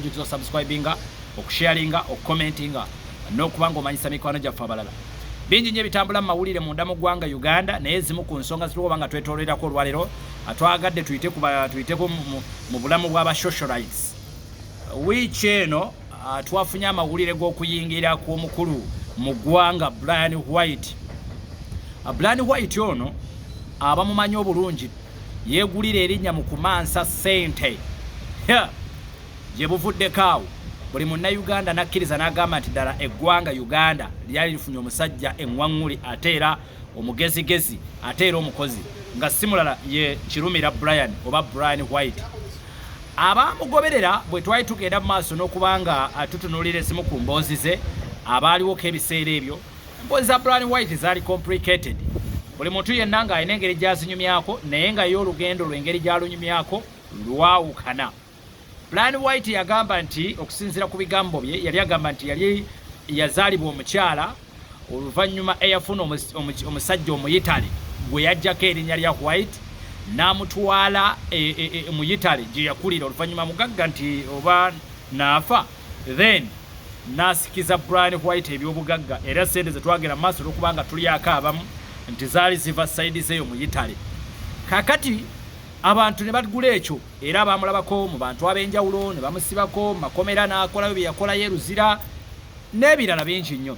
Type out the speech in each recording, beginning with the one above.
jjukiza osubscribinga okusharinga okucommentinga n'okuba ng'omanyisa mikwano gyaffe abalala bingi nyo ebitambula mu mawulire munda mu ggwanga uganda naye ezimu ku nsonga zituoba nga twetolorerako olwalero atwagadde tuyiteko mu bulamu bwaba socialites wiiki eno twafunye amawulire g'okuyingira kw'omukulu mu ggwanga brian white brian white ono abamumanyi obulungi yegulira erinnya mu kumansa ssente gye buvuddeko awo buli munnayuganda n'akkiriza n'agamba nti ddala eggwanga uganda lyali lifunye omusajja eŋwaŋŋuli ate era omugezigezi ate era omukozi nga si mulala ye kirumira brian oba brian white abaamugoberera bwe twali tugenda mu maaso n'okuba nga tutunuulira ezimu ku mboozi ze abaaliwoko ebiseera ebyo Emboozi za Brian White zaali complicated. Buli muntu yenna ng'alina engeri gy'azinyumyako naye nga ye olugendo lw'engeri gy'alunyumyako lwawukana. Brian White yagamba nti okusinziira ku bigambo bye yali agamba nti yali yazaalibwa omukyala oluvannyuma eyafuna omusajja omuyitale gwe yajjako erinnya lya White n'amutwala e, e, e, mu yitale gye yakulira oluvannyuma mugagga nti oba naafa then nasikiza Brian White ebyobugagga era sente zetwagera maaso olwokubanga tulyako abamu nti zaali ziva saidi zeeyo mu Yitale kakati abantu ne bagula ekyo era baamulabako mu bantu ab'enjawulo ne bamusibako makomera n'akolayo bye yakolayo eruzira n'ebirala bingi nnyo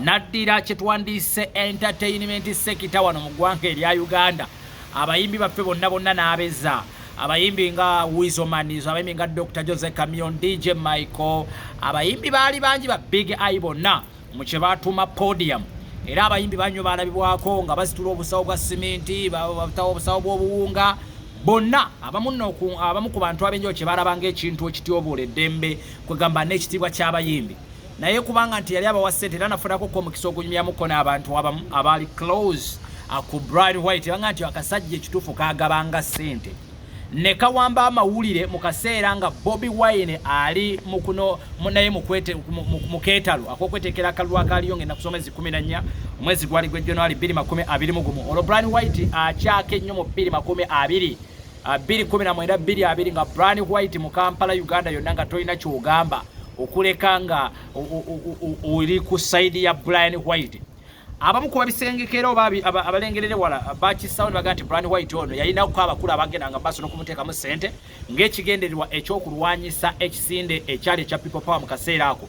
naddira kyetwandiise entertainment sekita wano mu ggwanga erya uganda abayimbi baffe bonna bonna n'abeza abayimbi nga wizomanis abayimbi nga dr jose camion dj michael abayimbi baali bangi ba big i bonna mu kye batuuma podium era abayimbi banyo balabibwako nga bazitula obusawo bwa siminti batawo obusawo bw'obuwunga bonna abamu ku bantu abenjao kye balabanga ekintu ekityobola eddembe kwegamba n'ekitiibwa ky'abayimbi naye kubanga nti yali abawa sente era nafunako ko omukisa ogunyumyamu ko n'abantu abamu abaali close aku uh, Brian White banga nti akasajja ekituufu kagabanga sente ne kawamba amawulire mu kaseera nga Bobi Wine ali mukuno munaye mukwete muketalo akokwetekera kalulu akaliyo ngenda kusoma ezi 14 omwezi gwali gwe January 2021 olwo Brian White akyake nnyo mu 2020 219 biri abiri nga Brian White mu Kampala Uganda yonna nga tolina kyogamba okuleka nga oli ku side ya Brian White abamu ku babisengekera oba abalengerere wala bakisawo nebaga nti Brian White ono yalinako abakulu abagenda nga maaso n'okumuteekamu ssente ng'ekigendererwa eky'okulwanyisa ekisinde ekyali ekya People Power mu kaseera ako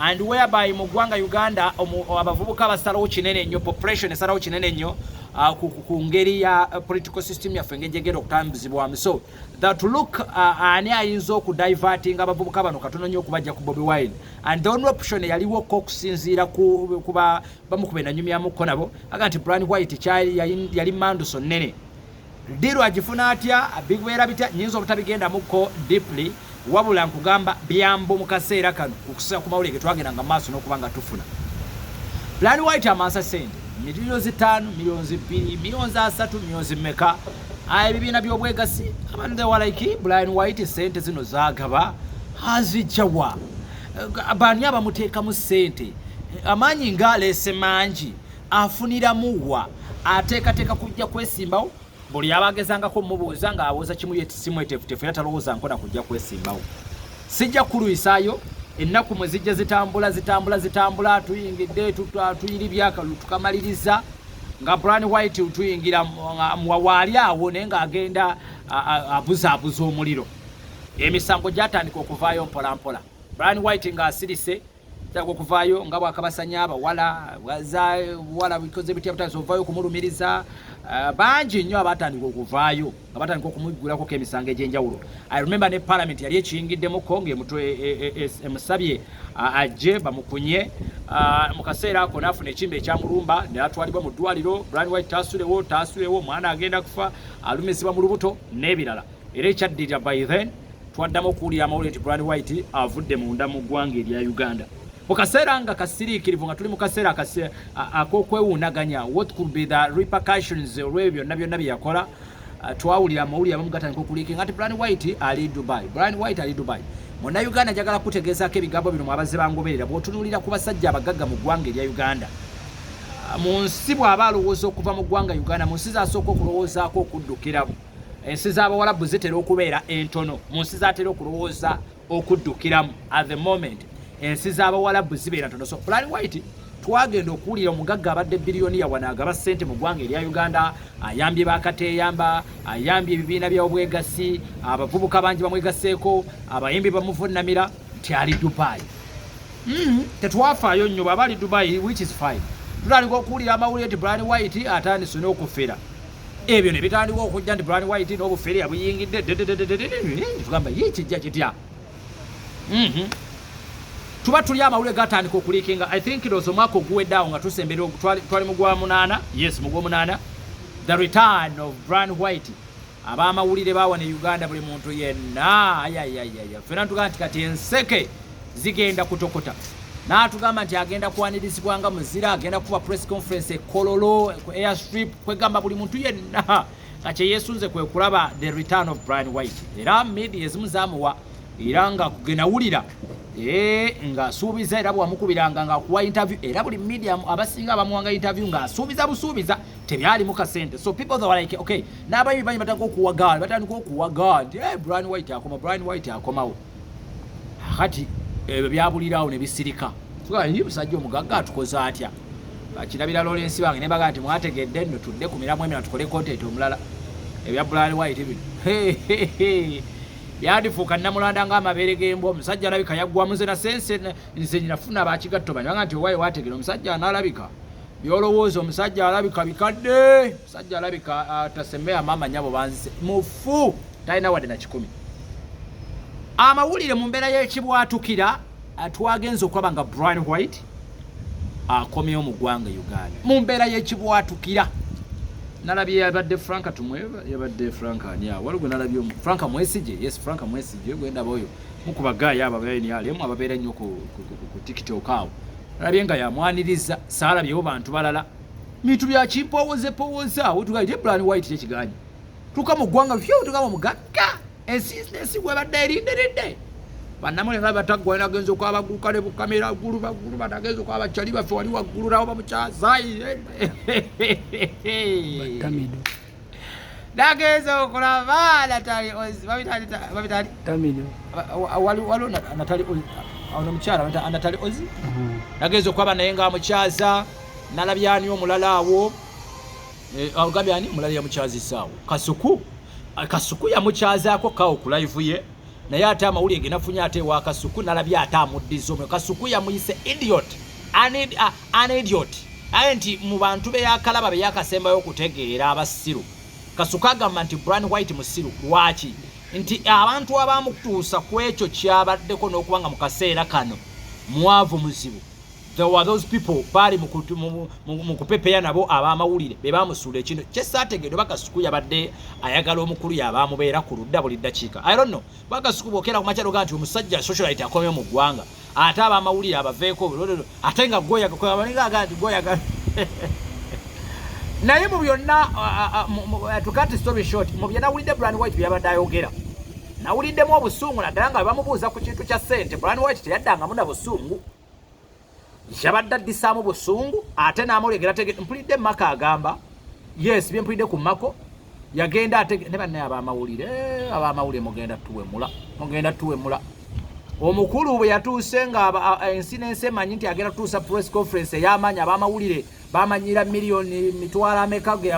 and whereby mu ggwanga Uganda abavubuka basalawo kinene nnyo population esalawo kinene nnyo uh, ku ngeri ya uh, political system yaffe engeri gyegenda okutambuzibwamu so that look uh, ani ayinza okudivertinga abavubuka bano katono nnyo okubajja ku bobi wine and the only option eyaliwo ko okusinziira kuba bamukuba enanyumyamuko nabo aga nti brian white kyali yali manduso nnene Diru agifuna atya bigwera bitya nyinza obutabigenda muko deeply wabula nkugamba byambo mukaseera kano okusa ku mawulire getwagenda nga maaso n'okuba nga tufuna plan white amansa sente miliyo zitaano miliyonzi bbiri miliyonzi asatu miliyonzi meka ah, ebibiina by'obwegasi abantu thewalaiki blian white sente zino zagaba azijjawa eh, baani abamuteekamu sente amaanyi nga aleese mangi afuniramu wa ateekateeka kujja kwesimbawo buli aba agezangako omubuuza ng'awoza kimu ye simwetefutefu era talowooza nkona kujja kwesimbawo sijja kulwisaayo ennaku mwe zijja zitambula zitambula zitambula tuyingidde tuyiri byakalu tukamaliriza nga bran white tuyingira waali awo naye ng'agenda abuzaabuza omuliro emisango gyatandika okuvaayo mpolampola bran white ng'asirise Tutaga okuvaayo nga bwakabasanya abawala za buwala bikoze bitya butazi ovaayo okumulumiriza eh, bangi nnyo abatandika okuvaayo nga batandika okumuggulakoko emisango egy'enjawulo i remember ne parliament yali ekiyingiddemuko ngaemutwe e, e, e, emusabye ajje bamukunye ah, mu kaseera ako naafuna ekimba ekyamulumba natwalibwa mu ddwaliro brand white taasulewo taasulewo omwana agenda kufa alumizibwa mu lubuto n'ebirala era ekyaddirira by then twaddamu okuwulira amawulire nti Brad White avudde munda mu ggwanga erya Uganda mu kaseera nga kasiriikirivu nga tuli mu kaseera ak'okwewuunaganya what could be the repercussions olw'ebyo byonna byonna bye yakola uh, twawulira amawulire abamu gatandika okuliikinga nti Brad White ali Dubai Brad White ali Dubai muna Uganda njagala kutegeezaako ebigambo bino mwabazze bangoberera bw'otunuulira ku basajja abagagga mu ggwanga erya Uganda uh, mu nsi bw'aba alowooza okuva mu ggwanga Uganda mu nsi zaasooka okulowoozaako okuddukiramu ensi z'abawalabu zitera okubeera entono mu nsi zatera okulowooza okuddukiramu at the moment ensi z'abawalabu zibeera ntono so plan white twagenda okuwulira omugagga abadde biriyoniya wano agaba ssente mu ggwanga erya uganda ayambye bakateyamba ayambye ebibiina byobwegassi abavubuka bangi bamwegaseeko abayimbi bamuvunamira nti ali dubai mm-hmm. tetwafaayo nnyo bwaba ali dubai which is fine tutandika okuwulira amawulire nti brian white atandise n'okufera ebyo ne bitandika okujja nti brand white n'obufere abuyingidde tugamba ye kijja kitya mhm. tuba tuli amawulire gatandika okulikinga i think lozo omwaka oguweddeawo nga tusembera twali mugwa munaana yes mugwa omunaana the return of brand white abamawulire bawa ne uganda buli muntu yenna ayayayaya fena tugaa nti kati enseke zigenda kutokota n'atugamba nti agenda kwanirizibwa nga muzira agenda kuba press conference ekololo ku airstrip kwegamba buli muntu yenna nga kyeyesunze kwe kulaba the return of brian white era media ezimu zamuwa era nga kugenawulira eh, ng'asuubiza era bwamukubiranga ng'akuwa interview era buli media abasinga abamuwanga interview ng'asuubiza busuubiza tebyalimu kasente so people they were like okay n'abayibi banyi batandika okuwagaala batandika okuwagaala nti eh, brian white akoma brian white akomawo kati ebyo byabulirawo ne bisirika tugaye musajja omugagga atukoze atya bakirabira lorensi bange ne bagaa nti mwategedde nno tudde ku miramu emina tukole kontenti omulala ebya bulali waite bino yandifuuka namulanda nga amabeere gembwa omusajja alabika yaggwamu nze nasense nze nafuna bakigatto bani banga nti owaye wategera omusajja analabika byolowooza omusajja alabika bikadde omusajja alabika atasemea ah, maama nyabo banzise mufu talina wadde na kikumi amawulire mu mbeera y'ekibwatukira twagenza okulaba nga brian white akomyewo mu ggwanga uganda mu mbeera y'ekibwatukira nalabye yabadde franka tumwe yabadde franka ani awo waliwo nalabye omu franka mwesije yes franka mwesije gwendaba oyo mukuba gaayi abo abaenialemu ababeera nnyo ku tiktok awo nalabye nga yamwaniriza saalabyewo bantu balala bintu byakimpowozepowozaawo tugaite brian white kyekiganye tuka mu ggwanga fyu tuka mu mugagga ensi ensi webadde erindiridde banamwe nga batagwa ina genzo kwa bagu kale bu kamera guru ba guru ba genzo kwa bachali ba fwali wa guru rawo bamucha zai tamido dagezo kula bala tali ozi babi tali babi tali tamido wali wali na tali ozi ono mchara wata ana tali ozi dagezo mhm. kwa bana yenga muchaza nalabyani omulala awo Eh, ogambye ani mulala yamukyazisaawo kasuku ah, kasuku yamukyazaako kawo ku live ye naye ate amawulire genafunye ate ewa kasuku nalabye ate amuddiza omwe kasuku yamuyise idiot an ah, idiot aye nti mu bantu beyakalaba beyakasembayo okutegeera abasiru kasuku agamba nti bran white musiru lwaki nti abantu abamutuusa ku ekyo kyabaddeko n'okuba nga mu kaseera kano mwavu muzibu there were those people baali mu kupepeya nabo abamawulire be bamusuula ekino kyesaategeedo bakasuku yabadde ayagala omukulu yabamubeera ku ludda buli ddakiika i don't know bakasuku bokera ku makyalo ga nti omusajja socialite akomye mu ggwanga ate abamawulire abaveeko ate nga gwoyagaga nti gwoyaga naye mu byonna tukati story short mu bye nawulidde brand white byabadde ayogera nawuliddemu obusungu naddala nga bebamubuuza ku kintu kya ssente brand white teyaddangamu na busungu yabadde addisaamu busungu ate n'amulengera tege mpulidde maka agamba yes bye mpulidde ku mako yagenda ate ne banne abamawulire abamawulire mugenda tuwemula mugenda tuwemula omukulu bwe yatuuse nga ensi n'ensi emanyi nti agenda tutuusa press conference ey'amaanyi abamawulire bamanyira miliyoni mitwalo ameka